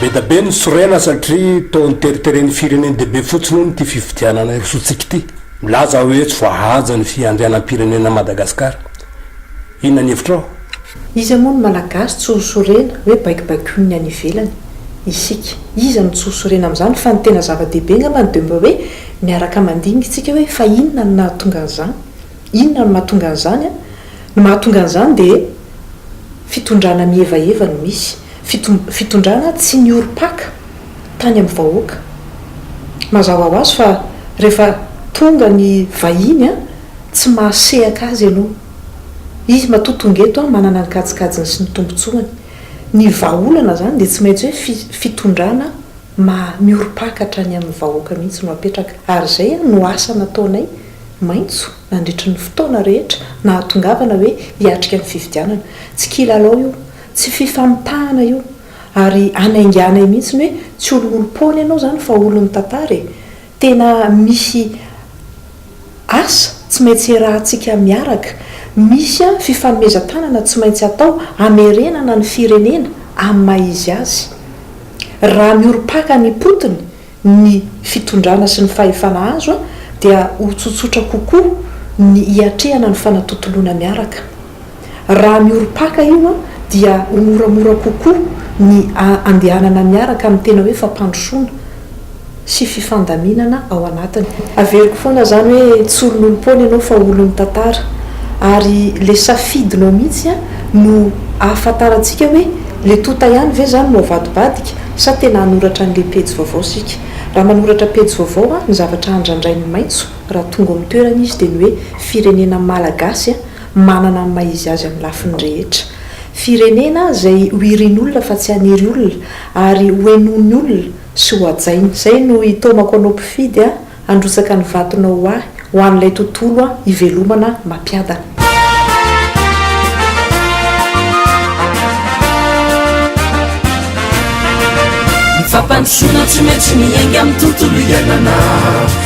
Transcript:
Be da be ny sorena satria toa niteriteren'ny firenena dia be fotsiny hono ity fifidianana hirosoantsika ity. Milaza aho hoe tsy voahaja ny fiandrianam-pirenena an'i Madagasikara. Inona ny hevitrao? Iza moa ny Malagasy tsy ho sorena hoe baikobaikon'ny any ivelany isika? Iza no tsy ho sorena amin'izany? Fa ny tena zava-dehibe angambany dia mba hoe miaraka mandinika isika hoe fa inona no nahatonga an'izany? Inona no mahatonga an'izany? Ny mahatonga an'izany dia fitondrana mihevaheva no misy. Fitondrana tsy niorim-paka tany amin'ny vahoaka. Mazava ho azy fa rehefa tonga ny vahiny, tsy mahasehaka azy ianao. Izy matoa tonga eto an, manana ny kajikajiny sy ny tombotsoany. Ny vahaolana izany dia tsy maintsy hoe fi, fitondrana ma, miorim-paka hatrany amin'ny vahoaka mihitsy no apetraka. Ary izay an no asa nataonay maitso nandritry ny fotoana rehetra nahatongavana hoe hiatrika ny fifidianana. Tsy kilalao io. Tsy fifampitahana io. Ary hanainganay mihitsy ny hoe tsy olo olom-poana ianao izany fa olon'ny tantara e. Tena misy asa tsy maintsy iarahantsika miaraka, misy fifanomezan-tanana tsy maintsy atao hamerenana ny firenena amin'ny maha izy azy. Raha miorim-paka any am-potony ny fitondrana sy ny fahefana azo dia ho tsotsotra kokoa ny hiatrehana ny fanatontoloana miaraka. Raha miorim-paka io an, dia ho moramora kokoa ny andehanana miaraka amin'ny tena hoe fampandrosoana sy fifandaminana ao anatiny. Averiko foana izany hoe tsy olon'olom-poana ianao fa olon'ny tantara. Ary ilay safidinao mihitsy an no ahafantarantsika hoe ilay tonta ihany ve izany no avadibadika sa tena hanoratra an'ilay pejy vaovao isika. Raha manoratra pejy vaovao an, ny zavatra andrandrain'ny maitso raha tonga ao amin'ny toerana izy dia ny hoe firenena malagasy Manana ny maha izy azy amin'ny lafiny rehetra. Firenena izay ho irin'olona fa tsy hanery olona ary ho henoin'ny olona sy ho hajaina. Izay no hitaomako anao mpifidy a! Handrotsaka ny vatonao ho ahy, ho an'ilay tontolo a! Hivelomana mampiadana. Ny fampandrosoana tsy maintsy miainga amin'ny tontolo iainana.